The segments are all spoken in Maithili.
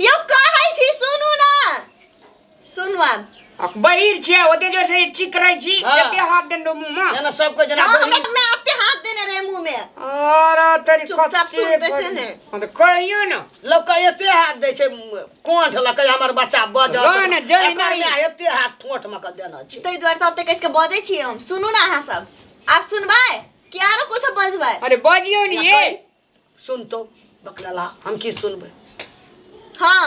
यो कहै छी सुनू ना सुनू आब आ बहिर छै ओते जोर से चिक रहै छी हाँ। एते हाथ देन मुंह में जेना सब कोई जना हाँ, बहिन हमरा में आते हाथ देने रहे मुंह में अरे तेरी चुपचाप कच्चे सुनते से बहिन। ने। हाँ, तो कहियो ना लोग का एते हाथ दे छै कोंठ लकै हमर बच्चा बज जाउ ने, जाउ एकर नहि। माय एते हाथ ठोठ में क देना छै ताहि दुआरे तऽ ओतेक कसिके बजै छियै हम सुनू ने अहाँ सब आब सुनबै कि आरो किछो बजबै अरे बजियो नहीं ये सुन तो बकलला हम की सुनबै हाँ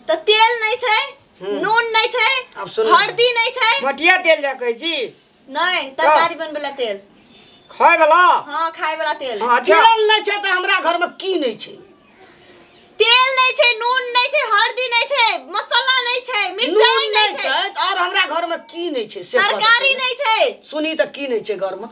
तऽ तेल नहि छै हम्म। नून नहि छै आब सुन हल्दी नहि छै मटिया तेल जा कहै छी नहि तरकारी बनबै ला तेल खाय वाला हाँ खाय वाला तेल हाँ, अच्छा तेल नहि छै तऽ हमरा घरमे की नहि छै तेल नहि छै नून नहि छै हल्दी नहि छै मसाला नहि छै मिरचाई नून नहि नहि छै छै तऽ आओर हमरा घरमे की नहि छै से कहऽ तऽ तरकारी पहिले। नहि छै सुनी तऽ की नहि छै घरमे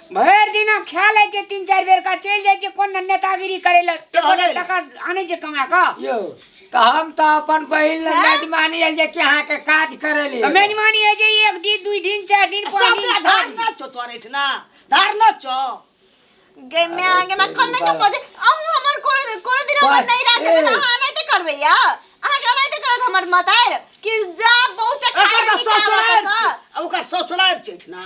भरि दिना खा लै छै तीन चारि बेर का चलि जाइ छै कोन ने नेतागिरी करै लए तऽ हमे- टका आनै छै कमा कऽ यौ तऽ हम तऽ अपन बहिन लग मेजबानी आयल जे कि अहाँके काज करै ले तऽ मेजबानी होइ छै एक दिन दुई दिन चारि दिन पाँच सब दिन छओ धार दिन। न छो तोर एठना धार न छो गे मैं आगे मैं कौन नहीं बजे अहू हमर कोन कोन दिन हमर पर- नहीं राखे ए। बिना अहाँ नहीं ते करबे या अहाँ के नहीं ते करत हमर मतार कि जा बहुत एकर खाए तऽ निकाल ससुरार रखा छै ओकर ससुरार छै एठना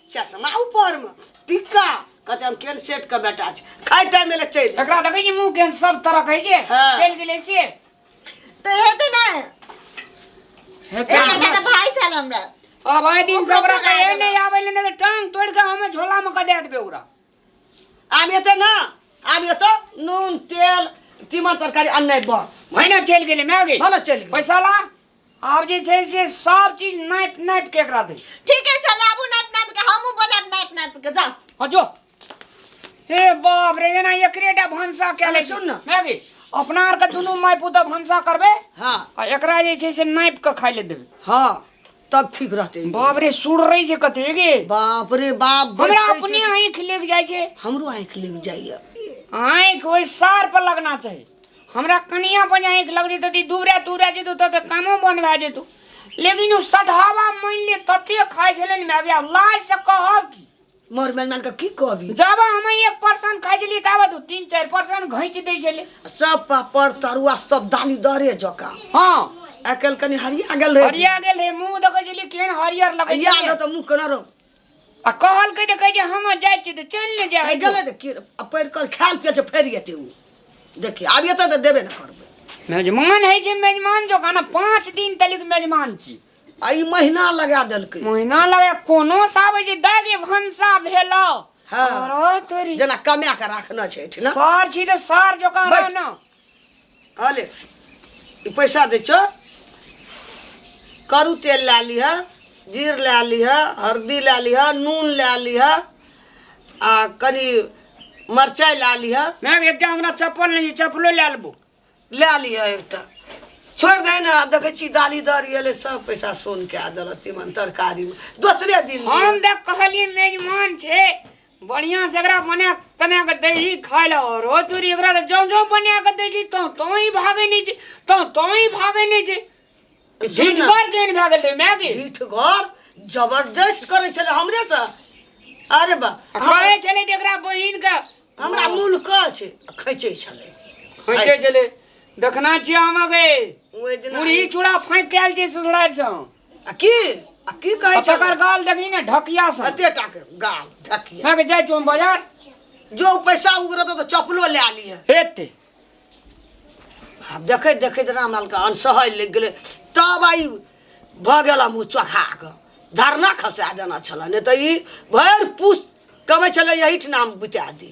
चश्मा ऊपर में टिक्का कहते हम केन सेट के बेटा छी खाए टाइम में ले चल एकरा देखै छी मुंह केहन सब तरह कहै छै हाँ। चलि गेलै से तो हेते ना हेतै एक घंटा तो भाई साल हमरा अब आइ दिन से ओकरा कहे नहि आबै ले नहि तऽ टांग तोड़ के हमे झोला में कऽ दे देबै ओकरा आब एते ना आब एतो नून तेल तीमन तरकारी अन्ने बन भने चलि गेलै माय गेल भले चलि गेल पैसा ला आब जे छै से सब चीज नाप नाप के एकरा दै छी ठीके छै लाबू नाप नाप के हमहूँ बनाब नाप नाप के जाओ हाँ जो हे बाप रे जेना एकरेटा भनसा कए लै सुन ने। माय गे अपना आर के दुनू माय पुतऽ भनसा करबै हाँ आ एकरा जे छै से नाप के खाय ले देबै हाँ तब ठीक रहते बाप रे सुर रही छै कते गे बाप रे बाप हमरा बैठै छै। अपने आँखि लग जाइ छै हमरो आँखि लग जाइए आँखि ओहि सार पर लगना चाही हमरा कनिया पर जाए के लग जेतौ ती दूबरा दूबरा जेतौ तब तो कामो बन भए जेतौ लेकिन ओ सठहवा मानि ले तते खाइ छलै ने माय बाप लाज से कहब की मर मन मन के की कहबी जब हम एक पर्सन खाइ छलियै ताबे तू तीन चारि पर्सन घैंच दै छलै सब पापड़ तरुआ सब दालि दरे जका हँ आइ काल्हि कनि हरिया गेल रहे हरिया गेल रहे मुंह देखै छलियै केहन हरियर लगै हरिया छलै गेल तऽ मुँह केना रहो आ कहल कहि कहि जे हम जाइ छी तऽ चलि ने जा गेलै तऽ की पढ़ि कल खायल पियल से फरि जेतै ओ देखि आब एतऽ तऽ देबे ने करबै मेजमान है जे मेजमान जो खाना पाँच दिन तलिक मेजमान छी आ ई महीना लगा देलकै महीना लगे कोनो साबै जे दागे भनसा भेलो हँ। अरे तोरी जेना कमाए कऽ राखने छै एहिठिना सर छी तऽ सर जोकान बैठ। रहना हले ई पैसा दै छौ करू तेल लए लिह जीर लए लिह हरदी लए लिह नून लए लिह आ कनि मरचाइ लए लिह मैम एकटा हमरा चप्पल नहि छै चप्पलो लए लेबो लए लिह एकटा छोड़ि दे ने आब देखै छी दाली दर गेलै सब पैसा सोन कए देलक तीमन तरकारीमे दोसरे दिन हम तऽ कहलियै मेजमान छै बढ़िया से एकरा बना कना के दै छी खाय ले और ओ तोरी एकरा के जम जम बना के दै छी तो तो ही भागे नहीं छी तो तो ही भागे नहीं छी सुन ढीठ ना। बार केन भागे ले मैं की ढीठ घर जबरदस्त करे छले हमरे से अरे बा कहे चले ते एकरा बहिन के हमरा मूल कह छै खैचे छले खैचे चले देखना छी हम के ओइ दिन मुरही चूड़ा फाँक कैल छै ससुराल से आ की आ की कहै आ छै तकर गाल देखी ने ढकिया से कते टा के गाल धकिया मैं के जाय छो हम बाजार जो उ पैसा उगरत तो चपलो ले आली है हेते आब देखैत देखैत रामलालके अनसहय लागि गेलै तब आइ भऽ गेल हम ओ चोखा कऽ धरना खसा देना छलै नहि तऽ ई भरि पुस कमै छलै एहिठिना हम बुता दी